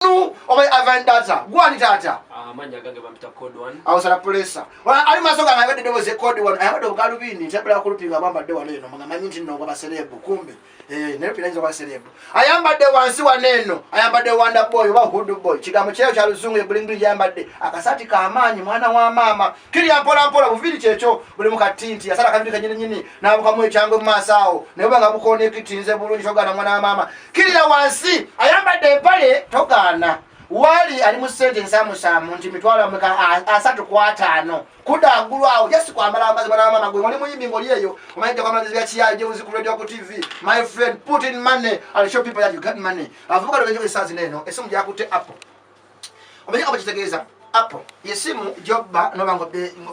Kodu oba Ivan Data. Gwani Data. Ah, manya gange bampita code 1. Awo sala pulesa. Wala ali masoka nga yabadde doboze code 1. Ayabadde ogalubindi ntabula kulupinga abambadde wano eno nga manyi nti nongo baserebu kumbe. Eh, naye pinanyiza baserebu. Ayambadde wansi wa neno. Ayambadde wanda boy oba hood boy. Kigambo kyeyo kya luzungu ebulingi yambadde. Akasati ka amaanyi mwana wa mama. Kiri ampola ampola buviri kyekyo buli mukatinti. Yasala kabiri kanyini nyini. nabukamu ekyangwe mumaaso awo naye obanga bukoona ekitinze bulungi togaana mwana wa maama kirira wansi ayambadde empale togaana wali ali mu sente ensamusaamu nti mitwalo ameka asatu ku ataano kuda agulu awo jasi kwambala amazima namama gwe oli muyimbi ngoli eyo omanyi jakwamalazi ya kiyayi je uziku radio ku tv my friend put in money and show people that you got money avuka lwe njo esazi neno esimu jakutte apple omanyi kaba kitegeeza apo yesimu jobba nobanga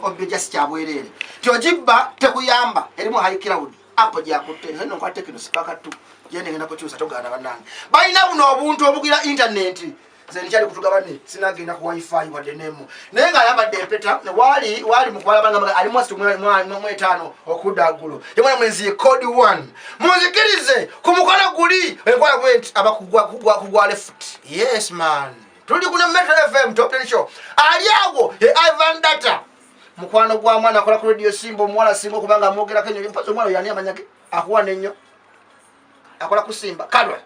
obbe jasi kyabwereere tyojibba tekuyamba erimu high cloud apo gyakutte nokwa tekino sipakatu gyendegenda kukyusa togaana banange balina buno obuntu obugira intaneti zenikyali kutugabane sinagenda ku wifi wadde nemu naye nga ayambadde empeta wali wali mukwalabanga ali mwasi mu etaano okudda ggulo yemwana mwenzi ye code one munzikirize ku mukono guli enkwala gwe nti abakugwa kugwa kugwa lefuti yes man tuli kuna metro fm top ten show ali awo e ivan data mukwano gwa mwana akola ku radio simba omuwala singa okuba nga amwogerako enyo mpazi omuwala oyo ani amanya ge akuwa nenyo akola ku simba kalwa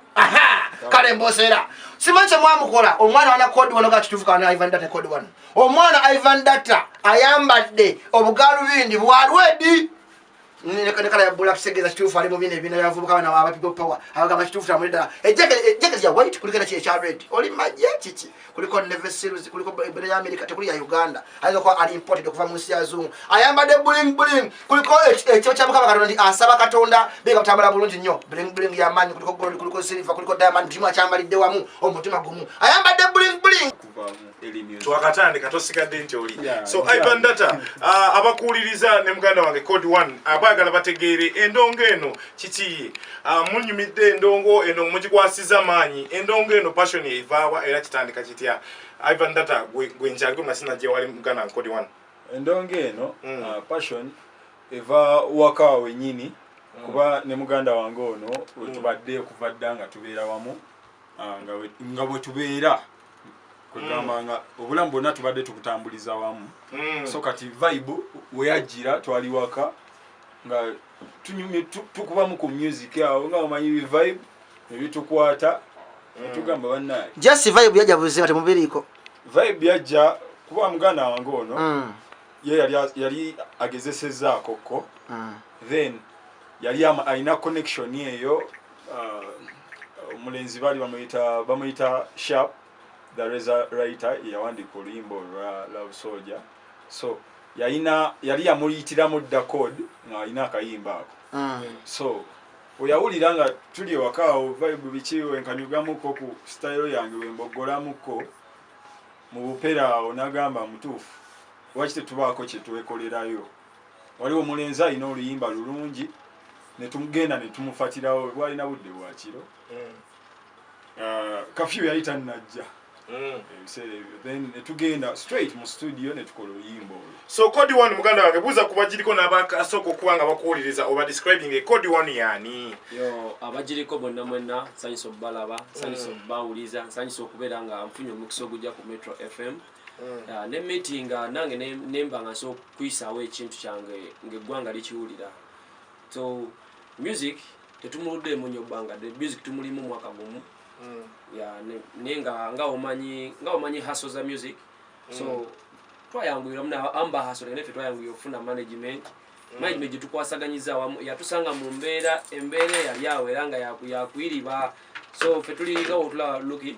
kale mboseera simanyi kyemwamukola omwana wana kodi wano ga kituufu kana ivan data kodi wano omwana ivan data ayambadde obugaalubindi bwalwedi nekala yabula tusegeza kituufu ali mubina ebina yavubuka bana aba people power abagamba kituufu tamuli ddala ejjaketi lya white kuliko era kiri ekya red oli majje kiki kuliko neve series kuliko ebina ya amerika tekuli ya uganda ayinza kuba ali imported okuva mu nsi yazungu ayambadde buling buling kuliko ekyo kya mukama katonda nti asaba katonda biga kutambala bulungi nnyo buling buling ya manyi kuliko gold kuliko silver kuliko diamond kimu akyambalidde wamu omutima gumu ayambadde buling buling twakatandika tosigadde nti oli so ivan data uh, abakuwuliriza ne muganda wange code one abaagala bategeere endongo eno kikiye uh, munyumidde endongo eno mugikwasiza maanyi endongo eno passion evaawa era kitandika kitya ivan data gwenjaliko masina gyewali muganda wange code one endongo eno mm. uh, passion eva waka wenyini mm. kuba ne muganda wange ono wetubadde mm. okuva dda nga tubeera wamu nga bwetubeera kwegamba nga obulamu bwonna tubadde tukutambuliza wamu mm. so kati vibe weyajjira twali waka nga tunyumye tukubamu ku music awo nga omanyi vibe ebitukwata mm. tugamba banaye just vibe yajja buzima temubiriiko vibe yajja kuba muganda wange ono mm. ye yali agezesezaako ko then yali alina connection eyo uh, omulenzi baali bamuyita bamuyita sharp the reza writer yawandiika oluyimba olwa love soldier so yalina yali yamuyitiramu dda code ng'alina akayimba ako ah. so oyawulira nga tuli ewakaawo vibe biki wenkanyugamuko ku sitayiro yange wemboggolamuko mu bupera awo nagamba mutuufu lwaki tetubaako kyetwekolerayo waliwo omulenzi alina oluyimba lulungi netugenda netumufatirawo bwalina budde bwakiro mm. uh, kafyu yali tanajja mm. then netugenda straight mu studio netukola oluyimba olwo so code one muganda wange buuza ku bagiriko n'abasooka okuba nga bakuwuliriza oba describing e code one yani yo abagiriko bonna mwenna nsanyisa okubalaba nsanyisa mm. okubawuliza nsanyisa okubeera nga nfunye omukisa ogujja ku metro fm mm. ah, ne meeting ah, nange nemba nga nsobola okuyisaawo ekintu kyange ngaeggwanga likiwulira so music tetumuluddeemu nnyo bbanga de music tumulimu mwaka gumu mm. naye nga nga omanyi haso za music so mm. twayanguyira muna amba haso naye fe twayanguyira okufuna management management mm. gyetukwasaganyiza awamu yatusanga mu mbeera embeera eyali awo era nga yakuiriba so fe tuli nga wotula luki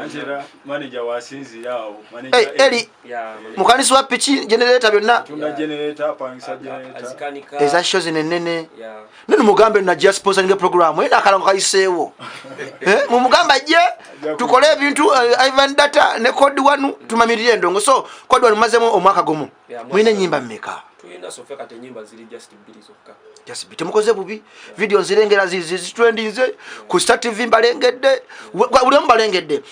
Angela manager wasinzira awo manager hey, eh, Eli yeah, mukanisi wa piki generator byonna tunda yeah. generator pangisa generator azikanika eza shows ne nene yeah nani mugambe na just sponsor nge program ena eh, kala ngaisewo eh mumugamba je tukole ebintu uh, eh, Ivan data ne code wanu tumamirire ndongo so code wanu mazemo omwaka gomo yeah, mwine nyimba mmeka tuina sofeka te nyimba zili just just temukoze bubi video nzirengera zitulendinze ku star tv mbalengedde buli omu balengedde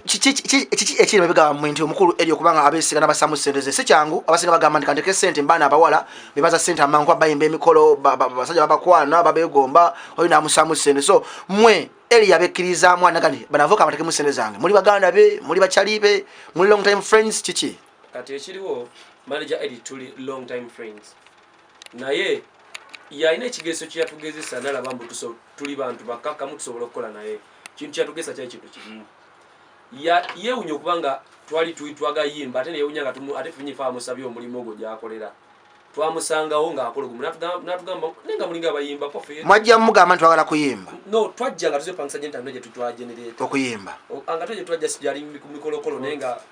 kiki ekiri babigamba mwe nti omukulu eri okubanga abesigana basamu sente ze sikyangu abasinga bagamba nti kanteke sente mbaana abawala bebaza sente amangu abayimba emikolo basajja babakwana babegomba oyo namusamu sente so mwe eri yabekkirizaamu anagani banavuka amatekemu sente zange muli baganda be muli bacali be muli long time friends kiki kati ekiriwo manager edit tuli long time friends naye yalina ekigeeso kyeyatugezesa nalaba mbu tuli bantu bakakkamu tusobola okukola naye kintu kyatugesa kyali kintu kimu yewunya okuba nga twali twagayimba ate neyewunya nga ate funyifa amusabye omulimu ogwo gyakolera twamusangawo ngaakola ogumu natugamba naye nga mulinga abayimba kofe mwajja mugamba nti twagala kuyimba no twajja nga tuzepangisa gentano gyetutwagenereta okuyimba nga twaje twajja sijali ku mikolokolo naye nga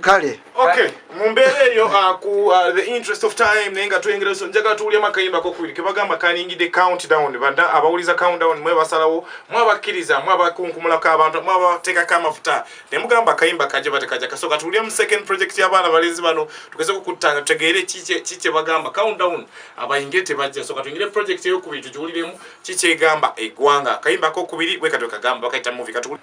kale mu mbeera eyo uh, ku uh, the interest of time naye nga twengera so njagala tuwulyamu akayimba kokubiri kebagamba kalingidde countdown bada abawuliza countdown mwe basalawo mwe abakkiriza mwe abakunkumulako abantu mwe abateekako amafuta ne mugamba akayimba kaje batekaja kasooka tuwulyemu second project y'abaana balenzi bano tugeze okukuttanga tutegeere ki kye bagamba countdown abayingire tebajja sooka tuyingire project eyokubiri tugiwuliremu ki kyegamba eggwanga akayimba kokubiri bwekatwekagamba bakayita muvi katuwuli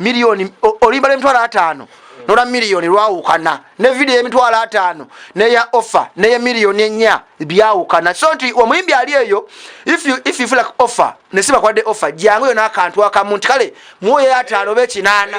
miliyoni olimba lwemitwalo ataano nola miliyoni lwawukana ne vidiyo yemitwalo ataano neya offer neye miliyoni enya byawukana so nti omuyimbi ali eyo ififulak offer nesibakwadde offer jangu yona akantu akamu nti kale muwoyo ataano oba ekinaana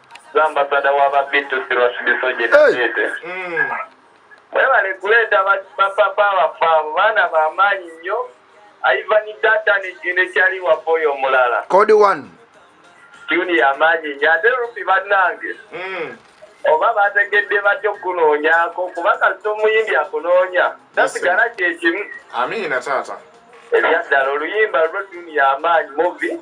Ambasada wa babitusi lwasibisoje nabete mwebale kuleeta bapapa baffe abo baana bamaanyi nnyo aivani data nekyali waffe oyo omulala kodi one tuni yamaanyi nnyo ate rupi bannange hmm. oba bategedde batya okukunoonyako kuba kasita omuyimbi akunoonya tasigala kyekimu amiina taata ebyaddala oluyimba lwo tuni yamaanyi muvi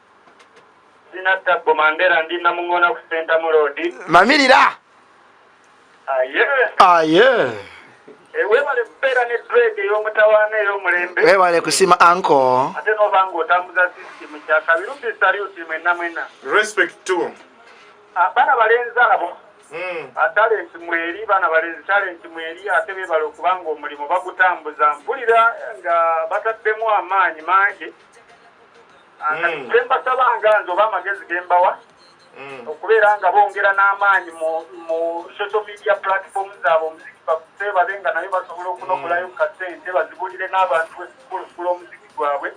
Sina tabbo mandera ndi namungona ku senta mulodi. Mamirira. Aye. Aye. Ewebale pera ne dread yo mutawana yo mulembe. Ewebale kusima anko. Ate no bango otambuza system kya kabiru bi salute mwe namwena. Respect to. Abana ah, balenza abo. Hmm. Atale ah, ntimweri bana balenzi tale ntimweri ate bebale okubanga omulimu bagutambuza mpulira nga bataddemu amaanyi mangi. Mm. kyembasaba nga nze oba amagezi gembawa mm. okubeera nga bongera n'amaanyi mu social media platform zaabwe omuziki bakuse babe nga naye basobola okunokolayo mm. kasente bazibulire n'abantu ekulukula omuziki gwabwe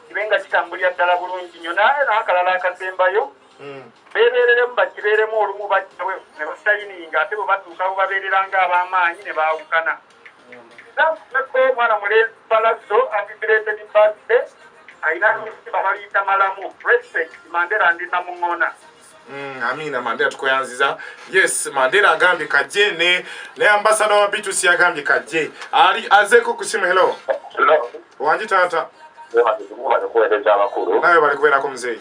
kibe nga kitambulira ddala bulungi nyo naye naakalala akasembayo beebeereremu bakibeeremu olumu bajjawe ne basayininga ate bwe batuuka bwe babeerera nga ab'amaanyi ne baawukana Nzakubeko omwana mulenzi Palazzo happy belated birthday alina abasimba baliyita malamu respect Mandela ndi namung'ona Mm, amina mandela tukoyanziza yes mandela agambye kajje ne ne ambasada wa bitus yagambye kajje ali azeko kusimu hello wangi taata naye bali kubeerako muzeeyi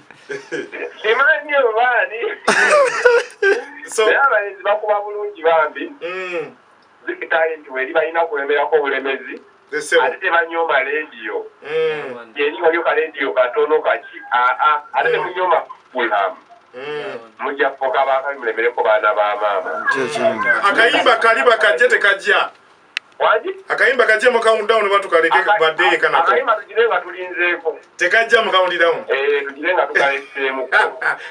simanyi obaani naye abalenzi bakuba bulungi bambi mm. zikitalenti weri balina kulemerako obulemezi ate tebanyooma lediyo mm. yeni waliyo kalediyo katono kaki aa ate mm. temunyooma fulhamu mujja kufuka baakabi mulemereko baana ba maama akayimba kali bakajje tekajja akayimba kajje mu count down batu kaleke badde ye kanako akayimba tujire nga tulinzeeko tekajja mu count down eh tujire nga tukaleseemu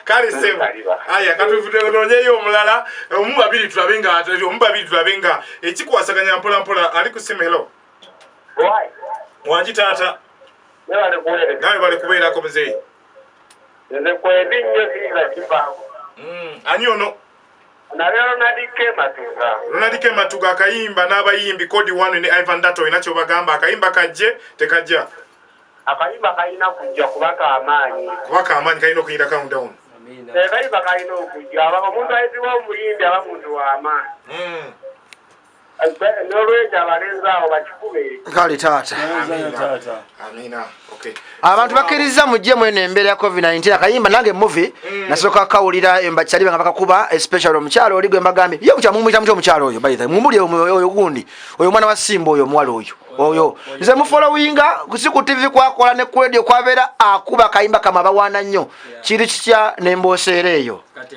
kali semu aya katuvudde nonye yo omulala omu babiri tulabe nga atali omu babiri tulabe nga ekikwasaganya mpola mpola ali ku simu hello why wanji tata nebale kuwere nawe bale kubeera ko mzee nze kwendi nnyo singa kibangu mm anyono Nabya Ronald K. Matuga. Ronald K. Matuga akayimba n'abayimbi Code One ne Ivan Dato olina ky'obagamba akayimba kajje tekajja? Akayimba kalina kujja kuba k'amaanyi. Kuba k'amaanyi kalina okuyinda countdown. Akayimba kalina okujja omuntu ayitibwa omuyimbi aba muntu w'amaanyi. Hmm. nolwekyo abalenzi awo bakikube kale taata abantu bakiriza mujje mweno embeera ya covid 19 akayimba nange muvi mm. nasooka kawulira embakyali banga bakakuba especially omukyalo oli gwembagambye ye kutya mumuyita mutya omukyalo oyo baitha mumuli oyo gundi oyo omwana wa simba oyo omuwala oyo oyo nze mufolowinga kusi ku tivi kwakola ne kuledio kwabeera akuba akayimba kama abawaana nnyo kiri kitya nemboseera eyo Kati,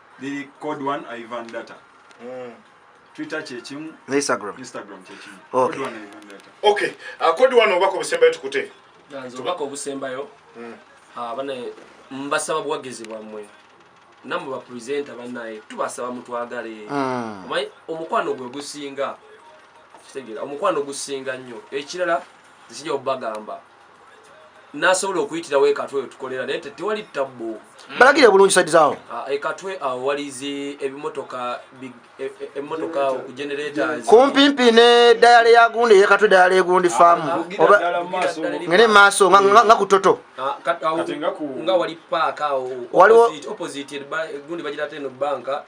liri code one ivan data mm. twitter kyekimu instagram instagram kyekimu okay. code one ivan data okay uh, code one obako busembayo tukute nze obako busembayo mm. uh, bane mbasaba bwagezi bwamwe namwe bapresenta banaye tubasaba mutwagale mm. omanyi omukwano gwe gusinga kitegera omukwano gusinga nnyo ekirala zikija obagamba nasobola okuyitirawo ekatwe wetukolera naye tewali tabbu mm. balagire bulungi saidi zawo ah, ekatwe awo walizi ebimotoka e, e, emotoka ku generators kumpimpi ne dayale yagundi eyekatwe dayale egundi ah, faamu ngene maaso nga kutoto ah, nga wali paaka awo waliwo opposite gundi bagira teno banka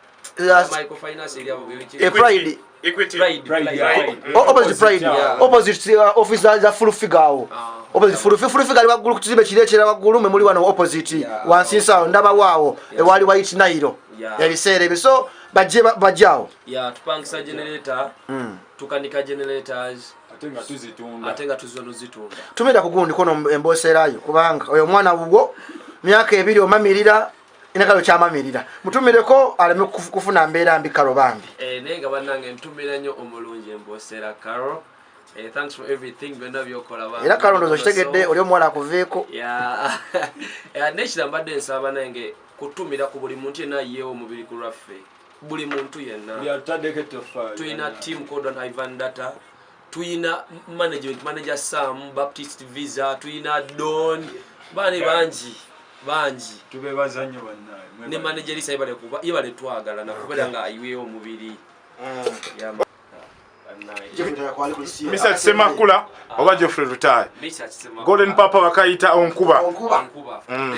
waggulu ku kizimbe kiri ekira waggulu mwe muli wano opposite wansi nsawo ndabawo awo ewaali wayiti nayiro ebiseera ebyo so bajje bajje awo ya tupangisa generator mm. tukanika generators atenga tuzitunda atenga tuzono zitunda tumenda kugundi kono emboserayo kubanga oyo mwana wugo myaka ebiri omamirira enakalo kyamamirira mutumireko aleme kufuna mbeera mbi karo bambi eh, naye nga banange ntumira nyo omulungi embosera karo eh, era karo ndozo kitegedde oli omuwala akuveeko eh, nekira mbadde nsaba nange kutumira ku buli muntu yena yewo omubiri ku lwaffe buli muntu yenna tulina team codon ivan data tuyina management manager sam baptist visa tuyina don bane bangi bangi tubebaza nnyo bannaye ne manager lisa yebale kuba yebale twagala nakubeera nga ayiweyo omubiri mm. misa kisemakula oba geoffrey lutaye golden papa bakayita onkuba mm.